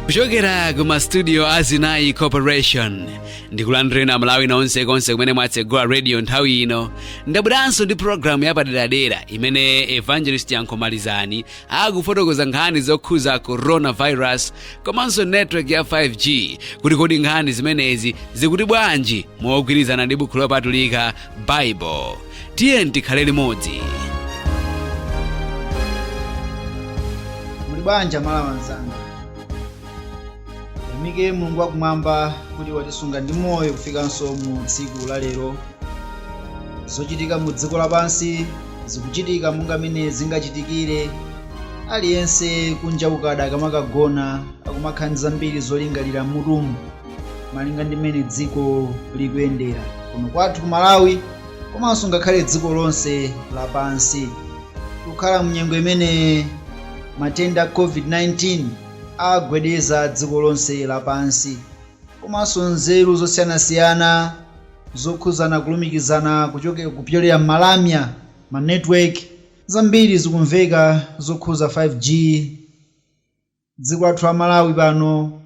kuchokera ku mastudio a zinayi corporation ndikulandireni Amalawi konsekonse kumene mwatsegula radio nthawi ino ndabweranso ndi programu yapaderadera imene evangelist yankhomalizani akufotokoza nkhani zokhuza coronavirus komanso network ya 5g kuti kodi nkhani zimenezi zikuti bwanji mogwirizana ndi bukhu lopatulika bible tiyeni tikhale limodzi muli bwanji Amalawi anzanga tiyamike mulungu wakumwamba kuti watisunga ndi moyo kufikanso mu tsiku la lero zochitika mu dziko lapansi zikuchitika monga mene zingachitikire aliyense kunja kukada akamakagona akumakhala ndi zambiri zolingalira m'mutumu malinga ndi mmene dziko likuyendera kuno kwathu ku malawi komanso ngakhale dziko lonse lapansi tikukhala mu nyengo imene matenda a covid-19 agwedeza dziko lonse lapansi komanso nzeru zosiyanasiyana Zokhuza kulumikizana kuchokera kupyolera m'malamya, ma network, zambiri zikumveka zokhuza 5G dziko lathu la Malawi pano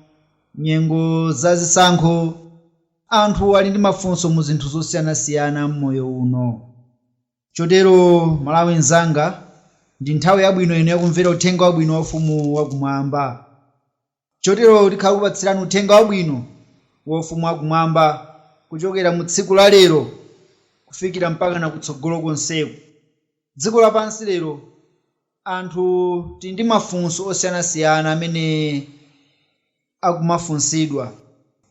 nyengo za zisankho anthu ali ndi mafunso mu zinthu zosiyanasiyana mmoyo uno chotero Mmalawi nzanga ndi nthawi yabwino ino yakumvera uthenga wabwino wa ufumu wa kumwamba. Chotero tikhala tikupatsirani uthenga wabwino wa ufumu wa kumwamba kuchokera mu tsiku la lero kufikira mpakana kutsogolo konseku. Dziko lapansi lero anthu tili ndi mafunso osiyanasiyana amene akumafunsidwa.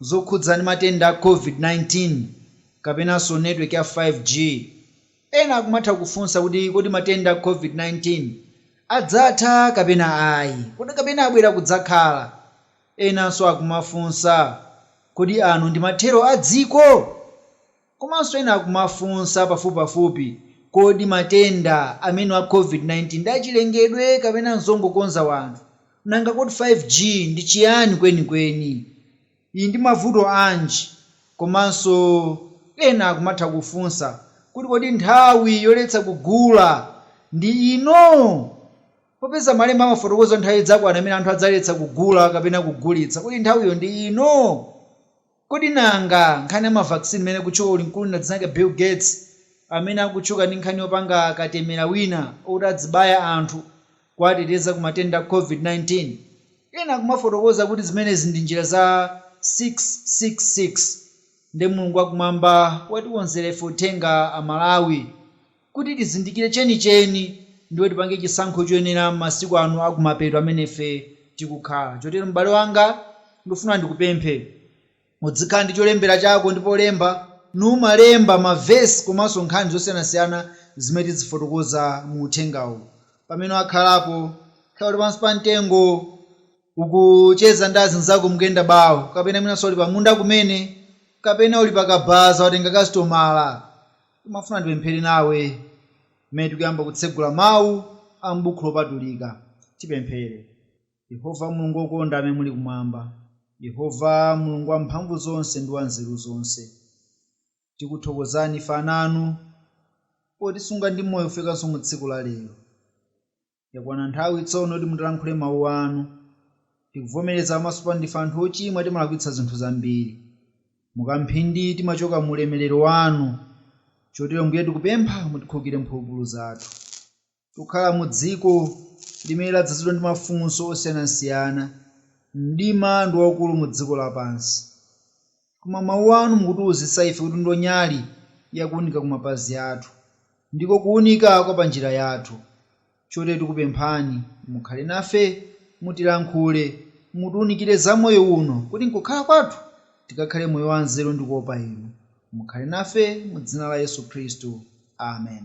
Zokhudza ndi matenda a Covid-19 kapenanso network ya 5G. Ena akumatha kufunsa kuti kodi matenda a Covid-19 adzatha kapena ayi? Kodi kapena abwera kudzakhala? Enanso akumafunsa, Kodi ano ndi mathero a dziko? Komanso ena akumafunsa pafupipafupi, Kodi matenda amenewa a Covid-19 ndi achilengedwe kapena n'zongokonza anthu? Nanga kodi 5G ndi chiyani kwenikweni? ili ndi mavuto anji komanso ena akumatha kufunsa kuti kodi nthawi yoletsa kugula ndi ino? Popeza malemba amafotokoza nthawi idzakwana imene anthu adzaletsa kugula kapena kugulitsa, kodi nthawiyo ndi ino? Kodi nanga nkhani ya ma vaccine imene ikutchuka kuli mkulu wina dzina lake Bill Gates amene akutchuka ndi nkhani yopanga katemera wina oti adzibaya anthu kuwateteza ku matenda a COVID-19. Ena akumafotokoza kuti zimenezi ndi njira za 666. Nde Mulungu wakumwamba watikonzera ife uthenga a Malawi kuti tizindikire chenicheni ndipo tipange chisankho choyenera m'masiku ano a kumapeto amene ife tikukhala. Chotero m'bale wanga, ndikufuna ndikupemphe. Udzikhala ndi cholembera chako ndipo lemba, n'kumalemba mavesi komanso nkhani zosiyanasiyana zimene tidzifotokoza mu uthengawu. Pamene wakhalapo, kaya uli pansi pa mtengo, ukucheza ndi azinzako mukuyenda bawo, kapena mwinanso uli pamunda kumene, kapena uli pa kabaza watenga kasitomala, ndimafuna ndipemphere nawe pamene tikuyamba kutsegula mawu a m'buku lopatulika. Tipemphere. Yehova Mulungu wokonda amene muli kumwamba, Yehova Mulungu wamphamvuzonse ndi wanzeruzonse, tikuthokozani ife ana anu potisunga ndi moyo kufikanso mu tsiku la lero. Yakwana nthawi tsono yoti mutilankhule mawu anu. Tikuvomereza pamaso panu ndife anthu ochimwa timalakwitsa zinthu zambiri. Mukamphindi timachoka mu ulemerero wanu. Chotero Mbuye tikupempha mutikhulukire mphulupulu zathu. Tikukhala mu dziko limene ladzazidwa ndi mafunso osiyanasiyana. Mdima ndi waukulu mu dziko lapansi. Koma Mawu Anu mukutiuzitsa ife kuti ndiwo nyali ya kuunika ku mapazi athu. Ndiko kuunika kwa pa njira yathu. Chotero tikupemphani, mukhale nafe, mutilankhule, mutiunikire za moyo uno, kuti m'kukhala kwathu tikakhale moyo wa nzeru ndi kuopa Inu. Mukhale nafe, mu Dzina la Yesu Khristu. Amen.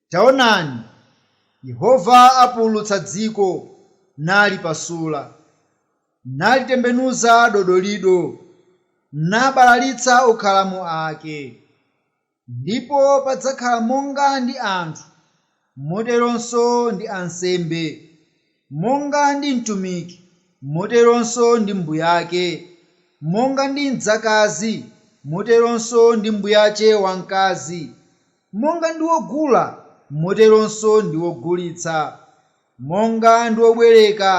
Taonani, Yehova apululutsa dziko, nalipasula, nalitembenuza dodolido, nabalalitsa okhalamo ake, ndipo padzakhala monga ndi anthu, moteronso ndi ansembe, monga ndi mtumiki, moteronso ndi mbuyake, monga ndi mdzakazi, moteronso ndi mbuyache wamkazi. Monga ndi wogula, moteronso ndi wogulitsa, monga ndi wobwereka,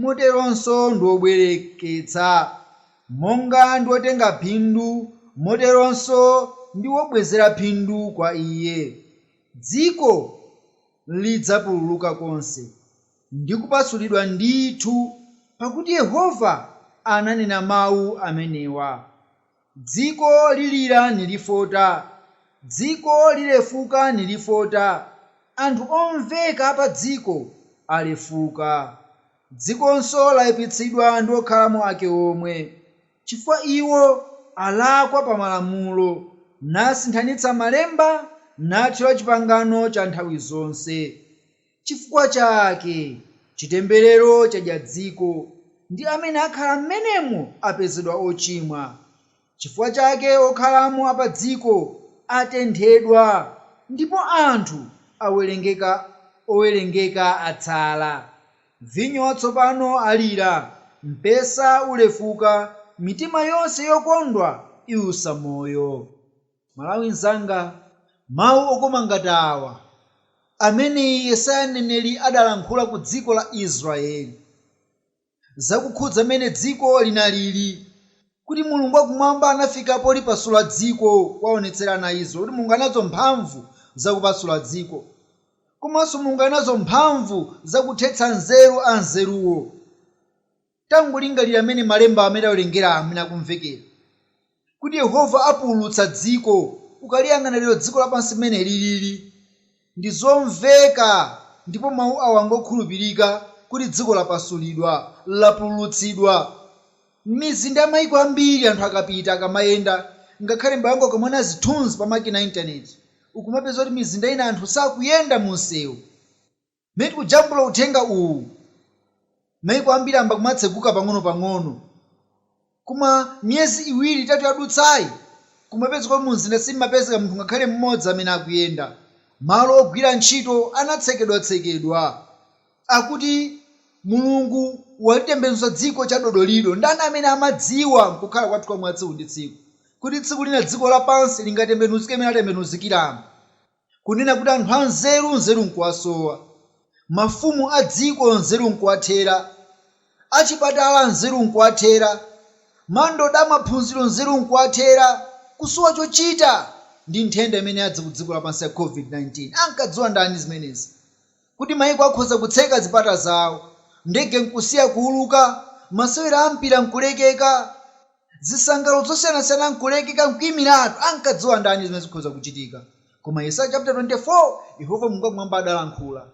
moteronso ndi wobwereketsa, monga ndi wotenga phindu, moteronso ndi wobwezera phindu kwa iye. Dziko lidzapululuka konse, ndi kupasulidwa ndithu, pakuti Yehova ananena mawu amenewa. Dziko lilira nilifota, dziko lilefuka nilifota, anthu omveka a padziko alefuka. Dzikonso laipitsidwa ndi okhalamo ake omwe, chifukwa iwo alakwa pa malamulo, nasinthanitsa malemba, nathyola chipangano cha nthawi zonse. Chifukwa chake chitemberero chadya dziko, ndi amene akhala m'menemo apezedwa ochimwa. Chifukwa chake okhalamo a padziko atenthedwa, ndipo anthu owerengeka atsala. Vinyo watsopano alira, mpesa ulefuka, mitima yonse yokondwa iusa moyo. Mmalawi mnzanga, mau okoma ngati awa amene Yesaya mneneri adalankhula ku dziko la Israyeli zakukhudza mene dziko linalili kuti Mulungu wa Kumwamba anafika polipasula dziko kuwaonetsera ana a Israyeli kuti Mulungu ali nazo mphamvu za kupasula dziko komanso Mulungu ali nazo mphamvu za kuthetsa nzeru anzeruwo. Tangolingalira mmene malemba amene tawerengawa akumvekera, kuti Yehova apululutsa dziko. Ukaliyang'ana lero dziko lapansi mmene lilili, ndi zomveka ndipo mawu awa ngokhulupirika kuti dziko lapasulidwa, lapululutsidwa. M'mizinda ya mayiko ambiri anthu akapita, akamayenda, ngakhale m'bale wangu ukamaona zithunzi pa makina a Intaneti, ukumapeza kuti mizinda ina anthu sakuyenda mumsewu. Mmene tikujambula uthenga uwu, maiko ambiri ayamba kumatseguka pang'ono pang'ono. Koma miyezi iwiri itatu yadutsayi, kumapezeka kuti mumzinda simmapezeka munthu ngakhale mmodzi amene akuyenda. Malo ogwira ntchito anatsekedwatsekedwa. Akuti Mulungu walitembenuza dziko chadodolido. Ndani amene amadziwa mkukhala kwathu kwa mwatsiku ndi tsiku kuti tsiku lina dziko lapansi lingatembenuzike mmene latembenuzikiramu? kunena kuti anthu anzeru, nzeru n'kuwasowa, mafumu a dziko nzeru n'kuwathera, achipatala nzeru n'kuwathera, mandoda a maphunziro nzeru n'kuwathera, kusowa chochita ndi nthenda imene yadza kudziko lapansi ya Covid-19. Ankadziwa ndani zimenezi? kuti maiko akhoza kutseka zipata zawo, ndege nkusiya kuuluka, masewera a mpira nkulekeka, zisangalalo zosiyanasiyana nkulekeka nkuimiratu. Ankadziwa ndani zimenezi zikhoza kuchitika? Koma Yesaya chaputala 24, Yehova Mulungu wakumwamba adalankhula,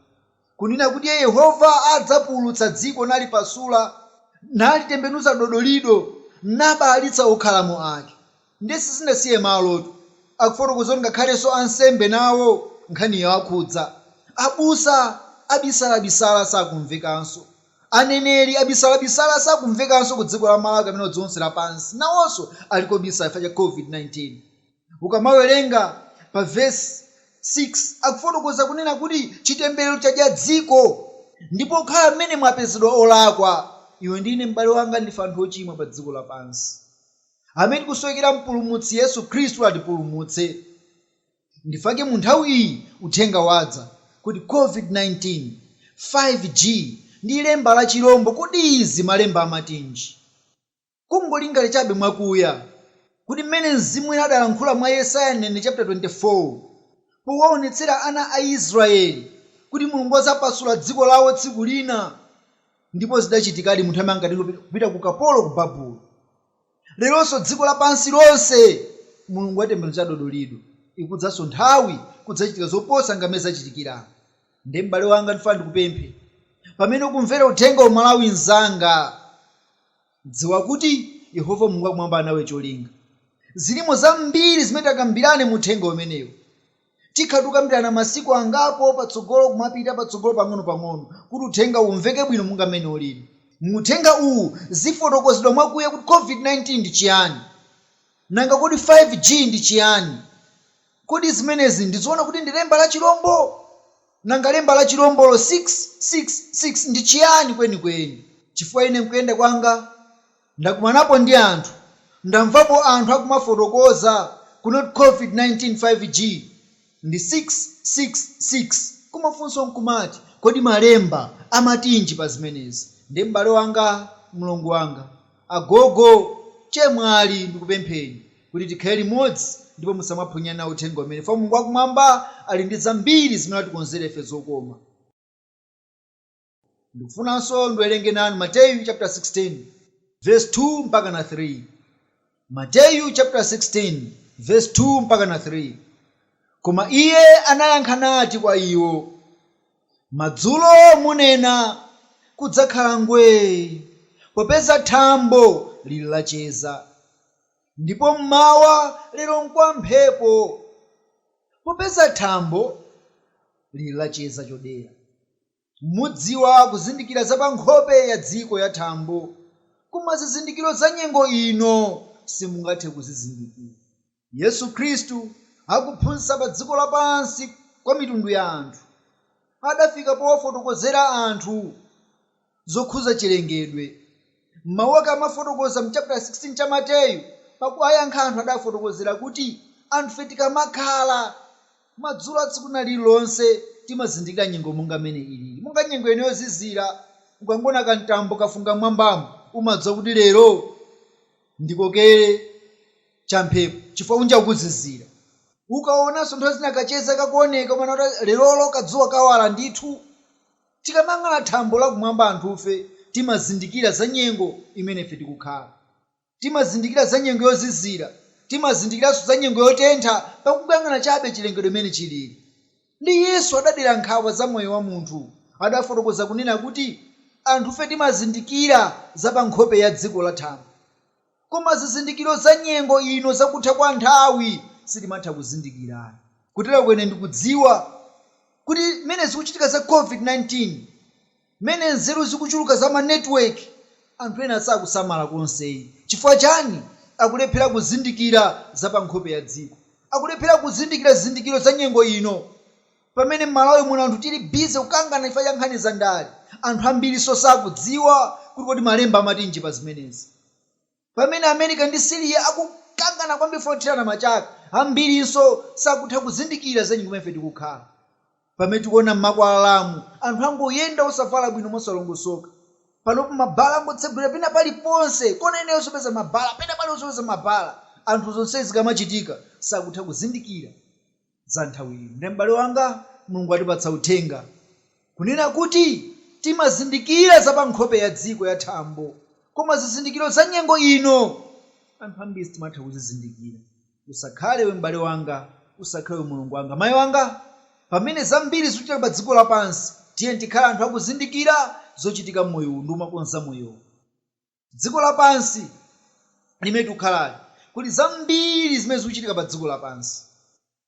kunena kuti Iye Yehova adzapululutsa dziko nalipasula, nalitembenuza dodolido, nabalalitsa okhalamo ake. Ndiye sizinasiye malotu. Akufotokoza kuti ngakhalenso ansembe nawo nkhaniyi yawakhudza. Abusa abisalabisala sakumvekanso. Aneneri abisalabisala sakumvekanso ku dziko la Malawi kapena dziko lonse lapansi. Nawonso ali kobisala chifukwa cha COVID-19. Ukamawerenga pa vesi 6 akufotokoza kunena kuti chitemberero chadya dziko ndipo okhala mmenemo apezedwa olakwa. Iwe ndi ine, m'bale wanga, ndife anthu ochimwa pa dziko lapansi. amene tikusowekera mpulumutsi, yesu khristu atipulumutse ndife ake munthawi iyi uthenga wadza kuti covid19 5G ndi lemba la chilombo kodi izi malemba amatinji kungolingalira chabe mwakuya kuti mmene mzimu woyera adalankhula mwa yesaya mneneri chaputala 24 powaonetsera ana a israeli kuti mulungu adzapasula dziko lawo tsiku lina Ndipo zidachitikadi munthu amene anatengedwa kupita ku ukapolo ku Babulo. Leronso dziko lapansi lonse Mulungu watembenuza dodolido. Ikudzanso nthawi kudzachitika zoposa mmene zachitikiramu. Nde m'bale wanga ndifuna ndikupemphe pamene ukumvera uthengawu Mmalawi nzanga dziwa kuti Yehova Mulungu wakumwamba alinawe cholinga. Zilimo zambiri zimene tikambirane mu uthenga umenewu. Tikhala tikukambirana masiku angapo patsogolo kumapita patsogolo pang'ono pang'ono kuti uthengawu umveke bwino monga mmene ulili. Mu uthenga uwu zifotokozedwa mwakuya kuti COVID-19 ndi chiyani. Nanga kodi 5G ndi chiyani? Kodi zimenezi ndi zoona kuti ndi lemba la chilombo? Nanga lemba la chilombolo 666 ndi chiyani kwenikweni? Chifukwa ine mkuyenda kwanga. Ndakumanapo ndi anthu, ndamvapo anthu akumafotokoza kuti covid 19 5G ndi 6 6 6 koma funso nkumati kodi malemba amatinji pa zimenezi nde m'bale wanga, mlongo wanga, agogo, chemwali ndikupempheni kuti tikhale limodzi ndipo musamaphonyane nawo uthenga umenewu chifukwa Mulungu wakumwamba ali ndi zambiri zimene watikonzera ife zokoma. Ndikufunanso ndiwerenge nanu Mateyu chaputala 16 vesi 2 mpakana 3. Mateyu chaputala 16 vesi 2 mpakana 3 Koma iye anayankha nati kwa iwo, Madzulo munena, Kudzakhala ngwee, popeza thambo liri lacheza, ndipo m'mawa, Lero nkwa mphepo, popeza thambo liri lacheza chodera. Mudziwa kuzindikira za pa nkhope ya dziko ya thambo, koma zizindikiro za nyengo ino simungathe kuzizindikira. Yesu Khristu akuphunzitsa pa dziko lapansi kwa mitundu ya anthu, adafika powafotokozera anthu zokhuza chilengedwe. M'mau ake amafotokoza m'chaputala 16 cha Mateyu, pakuwayankha anthu adawafotokozera kuti, Anthufe tikamakhala, madzulo a tsiku lina lililonse timazindikira nyengo monga m'mene iliri. Monga nyengo ino yozizira, ukangoona kamtambo kafunga m'mwambamu, umadziwa kuti lero ndikokere champhepo chifukwa kunja kukuzizira. Ukaonanso nthawi zina kacheza kakuoneka, umanena kuti lerolo kadzuwa kawala ndithu. Tikamayang'ana thambo lakumwamba anthufe timazindikira za nyengo imene ife tikukhala. Timazindikira za nyengo yozizira. Timazindikiranso za nyengo yotentha pakungayang'ana chabe chilengedwe mmene chilili. Nde Yesu adadera nkhawa za moyo wa munthu. Adafotokoza kunena kuti anthufe timazindikira za pa nkhope ya dziko la thambo. Koma zizindikiro za nyengo ino za kutha kwa nthawi sitimatha kuzindikira ayi. Kuteroko ine ndikudziwa kuti mmene zikuchitika za Covid 19, mmene nzeru zikuchuluka za ma network, anthu ena sakusamala konse ayi. Chifukwa chani? Akulephera kuzindikira za pa nkhope ya dziko. Akulephera kuzindikira zizindikiro za nyengo ino. Pamene mMalawi muno anthu tili busy kukangana chifukwa cha nkhani za ndale, anthu ambirinso sakudziwa kuti kodi malemba amatinji pa zimenezi. Pamene America ndi Syria akukangana kwambiri chifukwa chothirana machaka, ambirinso sakutha kuzindikira za nyengo imene ife tikukhala. Pamene tikuona mmakwalalamu anthu angoyenda osavala bwino mosalongosoka. Panopa ma bar angotsegulira pena pali ponse, kona iliyonse upeza ma bar, pena pali ponse upeza ma bar. Anthu zonsezi zikamachitika sakutha kuzindikira. za nthawi ino. Nde, m'bale wanga, Mulungu watipatsa Uthenga, kunena kuti timazindikira za pa nkhope ya dziko ya thambo, koma zizindikiro za nyengo ino, anthu ambiri sitimatha kuzizindikira. Usakhale iwe, m'bale wanga, usakhale iwe, mlongo wanga, mai wanga, pamene zambiri zikuchitika pa dziko lapansi, tiyeni tikhale anthu akuzindikira zochitika m'moyo uwu ndi kumakonza moyo uwu. dziko lapansi limene tikukhalali, kuli zambiri zimene zikuchitika pa dziko lapansi.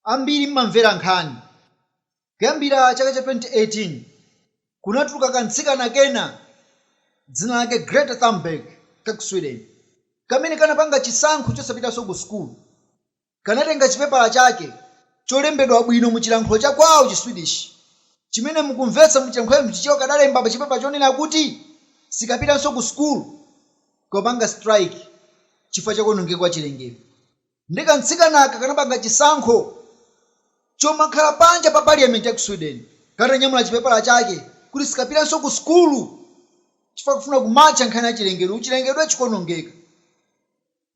Ambiri mmamvera nkhani. Kuyambira chaka cha 2018, kunatuluka kamtsikana kena dzina lake Greta Thunberg ka ku Sweden, kamene kanapanga chisankho chosapitanso ku sukulu. kanatenga chipepala chake cholembedwa bwino mu chilankhulo cha kwawo chi Swedish, chimene mu kumvetsa mu chilankhulo cha Chichewa kadalemba pa chipepala chonena kuti sikapitanso ku school kukapanga strike chifukwa cha kuonongeka kwa chilengedwe. Nde ka mtsikanaka kanapanga chisankho chomakhala panja pa parliament ya ku Sweden katanyamula chipepala chake kuti sikapitanso ku school chifukwa kakufuna kumatcha nkhani ya chilengedwe, chilengedwe chikuonongeka.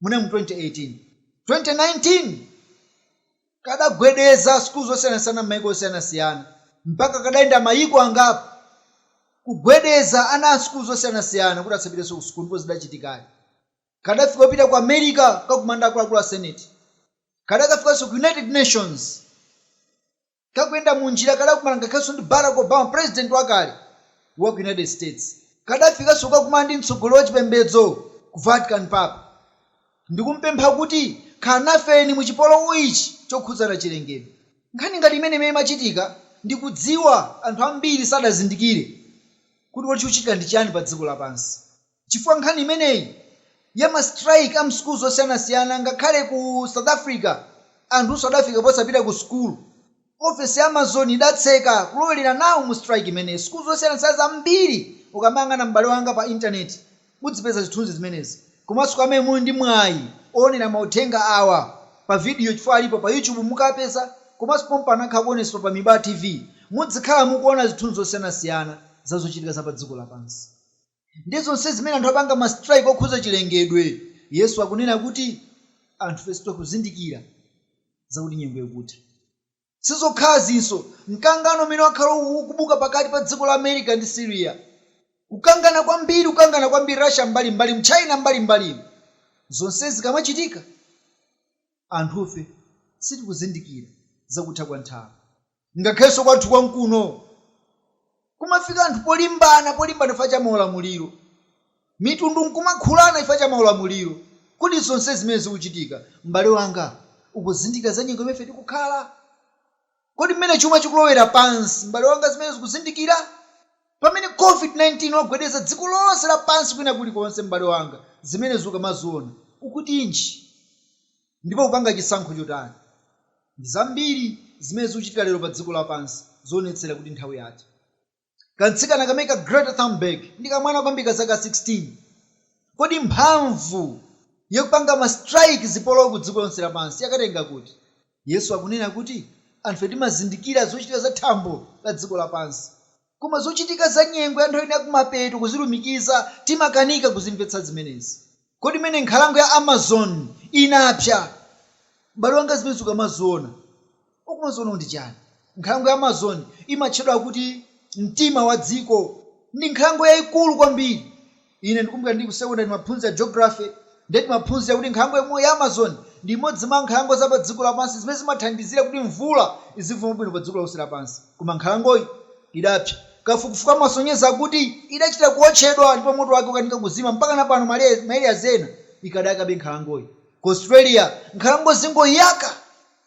Munali mu 2018. 2019 kadagwedeza sukulu zosiyanasiyana m'maiko osiyanasiyana mpaka kadayenda maiko angapo kugwedeza ana a sukulu zosiyanasiyana kuti asapitenso kusukulu ndipo zidachitikadi. Kadafika kupita ku America kukakumana ndi akuluakulu a Senate. Kadakafikanso ku United Nations. kakuyenda munjira kadakumana ngakhalenso ndi Barack Obama president wakale wa ku United States. Kadafikanso kukakumana ndi mtsogoleri wa chipembedzo ku Vatican Papa ndikumpempha kuti khala nafeni mu chipolowe ichi chokhudzana chilengedwe. Nkhani ngati imeneyi mmene imachitika ndi kudziwa anthu ambiri sadazindikire kuti kodi chikuchitika ndi chiyani pa dziko lapansi. chifukwa nkhani imeneyi ya ma strike a mschool zosiyanasiyana ngakhale ku south africa anthunso adafika posapita ku school office ya amazon idatseka kulowelera nawo mu strike imeneyi school zosiyanasiyana zambiri ukamayang'ana m'bale wanga pa internet udzipeza zithunzi zimenezi komanso kwa amene muli ndi mwayi owonera mauthenga awa pa video chifukwa alipo pa youtube mukapeza komanso pompano akhala akuonetsedwa pa mibaa tv mudzikhala mukuona zithunzi zosiyanasiyana za zochitika za padziko lapansi. ndiye zonsezi zimene anthu apanga ma strike okhudza chilengedwe Yesu akunena kuti anthufe sitikuzindikira zakuti nyengo ikutha. Sizokhazinso, mkangano umene wakhala ukubuka pakati pa dziko la America ndi Syria, kukangana kwambiri kukangana kwambiri Russia mbali mbalimu China mbali mbalimu zonsezi zikamachitika anthufe sitikuzindikira zakutha kwa nthawi. ngakhalenso kwathu kwankuno kumafika anthu polimbana polimbana chifukwa cha maulamuliro, mitundu nkumakhulana chifukwa cha maulamuliro, kodi zonsezi zimene zikuchitika m'bale wanga ukuzindikira za nyengo imene ife tikukhala? Kodi mmene chuma chikulowera pansi m'bale wanga zimenezo ukuzindikira? Pamene Covid-19 wagwedeza dziko lonse lapansi kwina kulikonse m'bale wanga zimenezi ukamaziona ukutinji? ndipo kupanga chisankho chotani? Ndi zambiri zimene zikuchitika lero pa dziko lapansi zoonetsera kuti nthawi yatha. Kamtsikana kameneka Greta Thunberg ndi kamwana kwambiri ka zaka 16. Kodi mphamvu yopanga ma strike zipolowe ku dziko lonse lapansi yakatenga kuti? Yesu akunena kuti anthufe timazindikira zochitika za thambo la dziko lapansi Koma zochitika za nyengo ya nthawi ino ya kumapeto kuzilumikiza, timakanika kuzimvetsa zimenezi. Kodi mmene nkhalango ya Amazon inapsa, m'bale wanga zimenezi ukamaziona, ukumaziona kuti chani? Nkhalango ya Amazon imatchedwa kuti mtima wa dziko. Ndi nkhalango yaikulu kwambiri. Ine ndikumbukira ndiri ku sekondale timaphunzira geography ndiye timaphunzira kuti nkhalango yomweyo ya Amazon ndi imodzi mwa nkhalango za padziko lapansi zimene zimathandizira kuti mvula izivumba bwino padziko lonse lapansi. Koma nkhalangoyi idapsa. Kafukufuku amasonyeza kuti idachita kuotchedwa ndipo moto wake ukanika kuzima. Mpakana pano ma areas ena ikadayakabe nkhalangoyi. Ku Australia nkhalango zingoyaka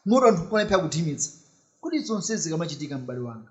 moto anthu nkumalephera kuthimitsa. Kodi zonsezi zikamachitika m'bale wanga,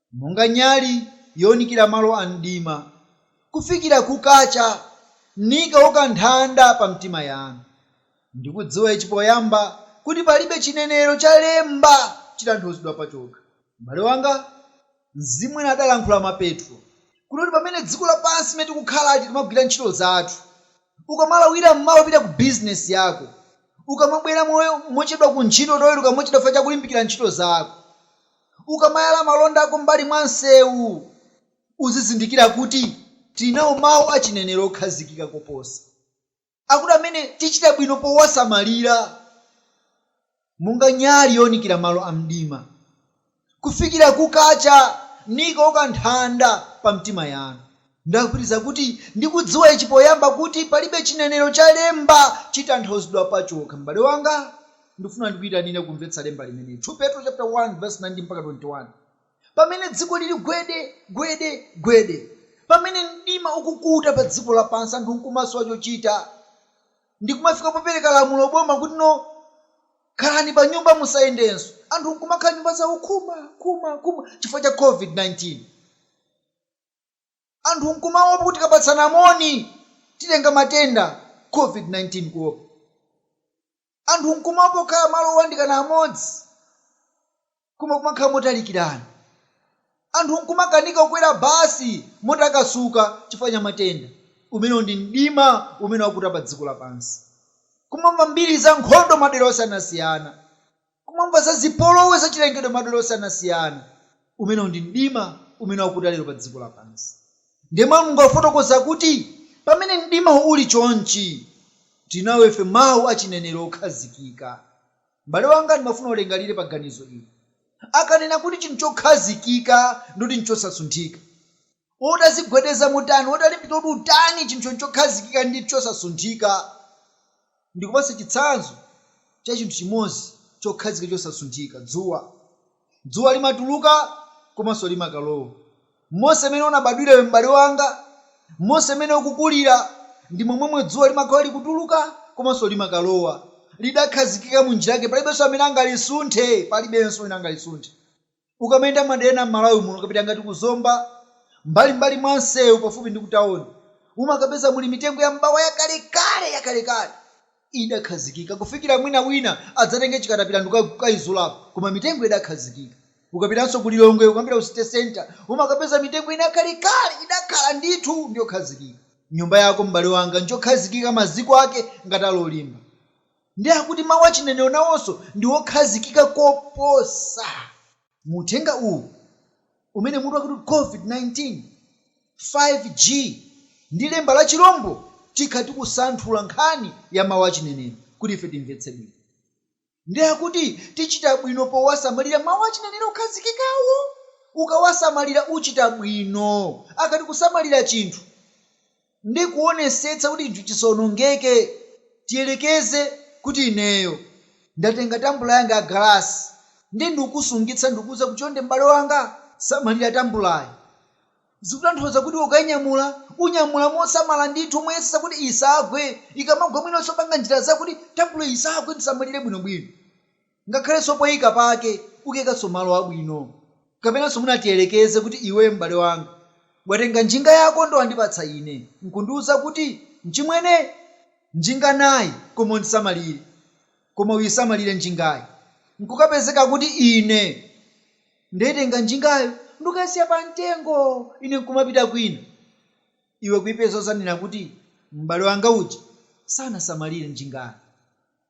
monga nyali younikira malo a mdima, kufikira kukacha, nikauka nthanda pa mtima yanu. Ndi kudziwa ichi poyamba, kuti palibe chinenero cha lemba chitanthauzidwa pachokha. M'bale wanga, Mzimu ena adalankhula mwa Petro, kunena kuti pamene dziko lapansi limene tikukhalali timagwira ntchito zathu, ukamalawira m'mawa kupita ku bizinesi yako, ukamabwera mo mochedwa ku ntchito, utoweruka mochedwa chifukwa cha kulimbikira ntchito zako. Ukamayala malonda ako m'mbali mwa msewu, uzizindikira kuti tili nawo mawu a chinenero okhazikika koposa akuti amene tichita bwino powasamalira monga nyali younikira malo amdima, kufikira kukacha, nikauka nthanda pa mtima yanu. Ndabwereza kuti ndi kudziwa ichi poyamba kuti palibe chinenero cha lemba chitanthauzidwa pachokha. M'bale wanga, ndikufuna ndikuitanire kumvetsa lemba limeneli, 2 Petro chapter 1 verse 19-21. Pamene dziko lili gwede, gwede, gwede, pamene mdima ukukuta pa dziko lapansi anthu nkumasowa chochita ndi kumafika popereka lamulo boma kuti no khalani pa nyumba musayendenso, anthu nkumakhala m'nyumba zawo khuma, khuma, khuma chifukwa cha covid 19. anthu nkumaopa kuti tikapatsana moni titenga matenda Covid-19 kuopa. Anthu nkumaopa kukhala malo owandikana amodzi koma kumakhala motalikirana. Anthu nkumakanika kukwera basi motakasuka chifukwa cha matenda. Umenewu ndi mdima umene wakuta padziko lapansi. Kumamva mbiri za nkhondo madera osiyanasiyana. kumamva za zipolowe za chilengedwe madera osiyanasiyana. Umenewu ndi mdima umene wakuta lero pa dziko lapansi. Ndiye Mawu a Mulungu akufotokoza kuti pamene mdimawo uli chonchi, tili nawo ife Mawu a chinenero okhazikika. M'bale wanga, ndimafuna ulingalire pa ganizo ili. Akanena kuti chinthu chokhazikika, ndi kuti n'chinthu chosasunthika. utazigwedeza motani, utalimbika kuti utani, chinthu chokhazikika ndi chosasunthika. Ndikupatse chitsanzo cha chinthu chimodzi chokhazikika chosasunthika, dzuwa. Dzuwa limatuluka komanso limakalowa. Monse mmene unabadwira iwe m'bale wanga, monse mmene ukukulira, ndi momwemwe dzuwa limakhala likutuluka komanso limakalowa. Lidakhazikika mu njira yake, palibenso amene angalisunthe, palibenso wina angalisunthe. Ukamayenda m'madera ena m'Malawi muno, ukapita ngati ku Zomba, m'mbalim'mbali mwa msewu pafupi ndi kutaoni, umakapeza muli mitengo ya m'bawa yakalekale, yakalekale. Idakhazikika kufikira mwina wina adzatenge chikatapila ndi kukaizulapo, koma mitengo idakhazikika. Ukapitanso ku Lilongwe, ukamapita ku City Centre, umakapeza mitengo ina yakalekale, idakhala ndithu ndi yokhazikika. Nyumba yako, m'bale wanga, njokhazikika, maziko ake ngati ali olimba. Ndiye akuti mawu a chinenero nawonso ndi okhazikika koposa. Mu uthenga uwu umene mutu wake akuti COVID-19, 5G, ndi lemba la chilombo, tikhala tikusanthula nkhani ya mawu a chinenero kuti ife timvetse bwino. Ndiye akuti tichita bwino powasamalira mawu a chinenero okhazikikawo. Ukawasamalira uchita bwino. Akati kusamalira chinthu. ndi kuwonetsetsa kuti chinthu chisawonongeke. Tiyerekeze kuti ineyo ndatenga tambula yanga ya galasi ndiye ndikukusungitsa ndikukuuza kuti, Chonde m'bale wanga, samalira tambulayi. Zikutanthauza kuti ukainyamula, unyamula mosamala ndithu, moyesetsa kuti isagwe. Ikamagwa mwinanso panga njira zakuti tambulayi isagwe, uisamalire bwinobwino. Ngakhalenso poika pake ukaikanso malo abwino. Kapenanso mwina tiyerekeze kuti iweyo m'bale wanga, watenga njinga yako ndiye wandipatsa ine, n'kundiuza kuti, Mchimwene, njinga nayi, koma uisamalire. Koma uisamalire njingayi. N'kukapezeka kuti ine ndaitenga njingayo ndikukaisiya pamtengo, ine n'kumapita kwina. Iwe kuipeza udzanena kuti, M'bale wanga uja sanasamalire njingayi.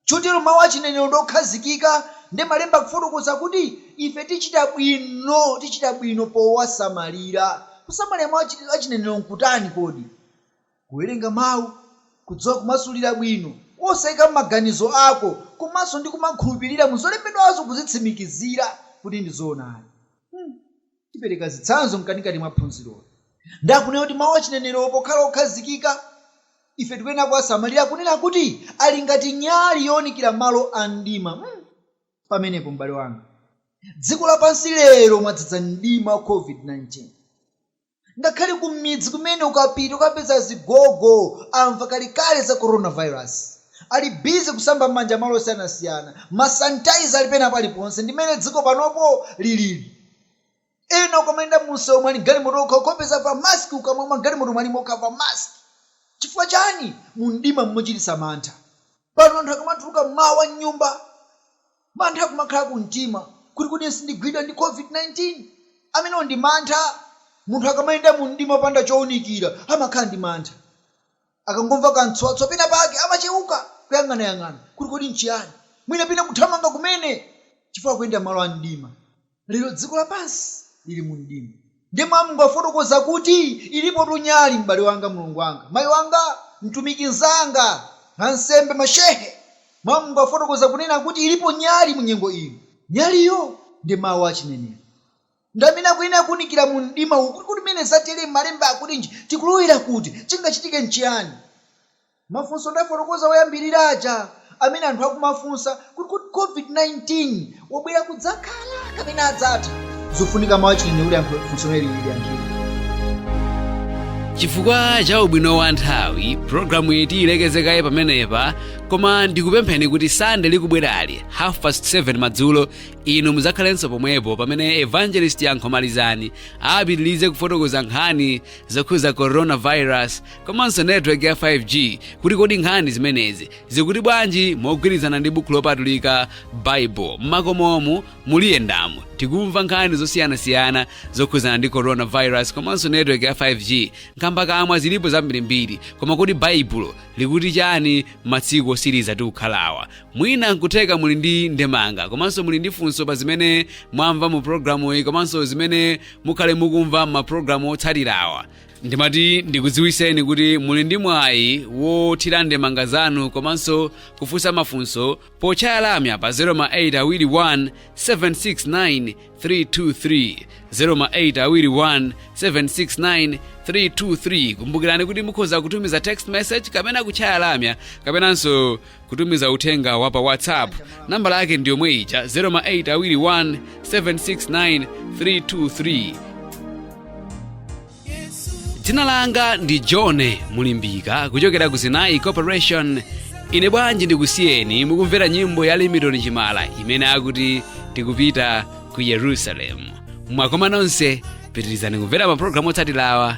Chotero mawu a chinenero ndi okhazikika, ndiye Malemba akufotokoza kuti ife tichita bwino, tichita bwino powasamalira. Kusamalira mawu a chinenero nkutani kodi? Kuwerenga mawu, kudziwa kumasulira bwino, osaikamo maganizo ako, komanso ndi kumakhulupirira mu zolembedwazo kuzitsimikizira kuti ndi zoonadi. Tipereka zitsanzo mkatikati mwa phunziroli. Ndiye akunena kuti mawu achinenerowo pokhala okhazikika, ife tikuyenera kuwasamalira kunena kuti ali ngati nyali yowunikira malo a mdima. Hmm! Pamenepo, m'bale wanga, dziko lapansi lero mwadzadza mdima wa COVID-19. Ngakhale kumidzi kumene ukapita ukapeza azigogo amva kalekale za coronavirus. Ali busy kusamba m'manja malo osiyanasiyana. Ma sanitizer ali pena paliponse. Ndi mmene dziko panopo lilili. eya ukamayenda mumsewu wa m'galimoto ukamupeza wavala mask kukamwa wa m'galimoto wavala kukamwa mask chifukwa chani mumdima mmochititsa mantha pano anthu akamatuluka mmawa mnyumba mantha kumakhala kumtima kuti kodi sindigwidwa ndi covid 19 amenewo ndi mantha munthu akamayenda mumdima opanda chounikira amakhala ndi mantha. Akangomva kamtswatswa penapake, amacheuka, kuyang'anayang'ana kuti kodi n'chiyani, mwina pena kuthamanga kumene chifukwa akuyenda m'malo a mdima. Lero dziko lapansi lili mu mdima. Ndiye mawu a Mulungu akufotokoza kuti, Ilipotu nyali, m'bale wanga, mlongo wanga, mayi wanga, mtumiki mnzanga, ansembe, mashehe. Mawu a Mulungu akufotokoza kunena kuti ilipo nyali mu nyengo ino. Nyaliyo ndi mawu a chinenero. Ndi amene akuyenera kuwunikira mu mdima uwu, kuti kodi pamene zatere malemba akutinji, tikulowera kuti, chingachitike nchiyani? Mafunso ndafotokoza oyambirira aja amene anthu akumafunsa kuti kodi Covid-19 wabwera kudzakhala kapena adzatha? Zufunika mawu a chinenero kuti yankho, funso limeneli liyankhidwe. Chifukwa cha ubwino wa nthawi, programuyi tiyilekeze kaye pamenepa, koma ndikupempheni kuti Sande likubwerali, half past 7 madzulo, inu mudzakhalenso pomwepo pamene evangelist yankho malizani apitirize kufotokoza nkhani zokhuza coronavirus komanso network ya 5g kuti kodi nkhani zimenezi zikuti bwanji mogwirizana ndi buku lopatulika baibulo mmakomomu muli yendamo tikumva nkhani zosiyanasiyana zokhuzana ndi coronavirus komanso network ya 5g nkhambakamwa zilipo zambirimbiri koma kodi baibulo likuti chani matsiku osiriza tikukhalawa mwina nkutheka muli ndi ndemanga komanso muli ndi funso pa zimene mwamva mu programuyi komanso zimene mukhale mukumva m'mapulogalamu otsatirawa ndimati ndikudziwiseni kuti muli ndi mwayi wothira ndemanga zanu komanso kufunsa mafunso potchaya lamya pa 08 awiri 1 769 323 08 awiri 1 769 323 kumbukirani kuti mukhoza kutumiza text message kapena kutchaya lamya kapenanso kutumiza uthenga wa pa whatsapp nambala yake ndi yomwe ija 08 awiri 1 769 323 dzina langa ndi john mulimbika kuchokera ku zinayi corporation ine bwanji ndikusiyeni mukumvera nyimbo ya limitoni chimala imene akuti tikupita ku yerusalemu mwakomanonse pitirizani kumvera mapulogalamu otsatirawa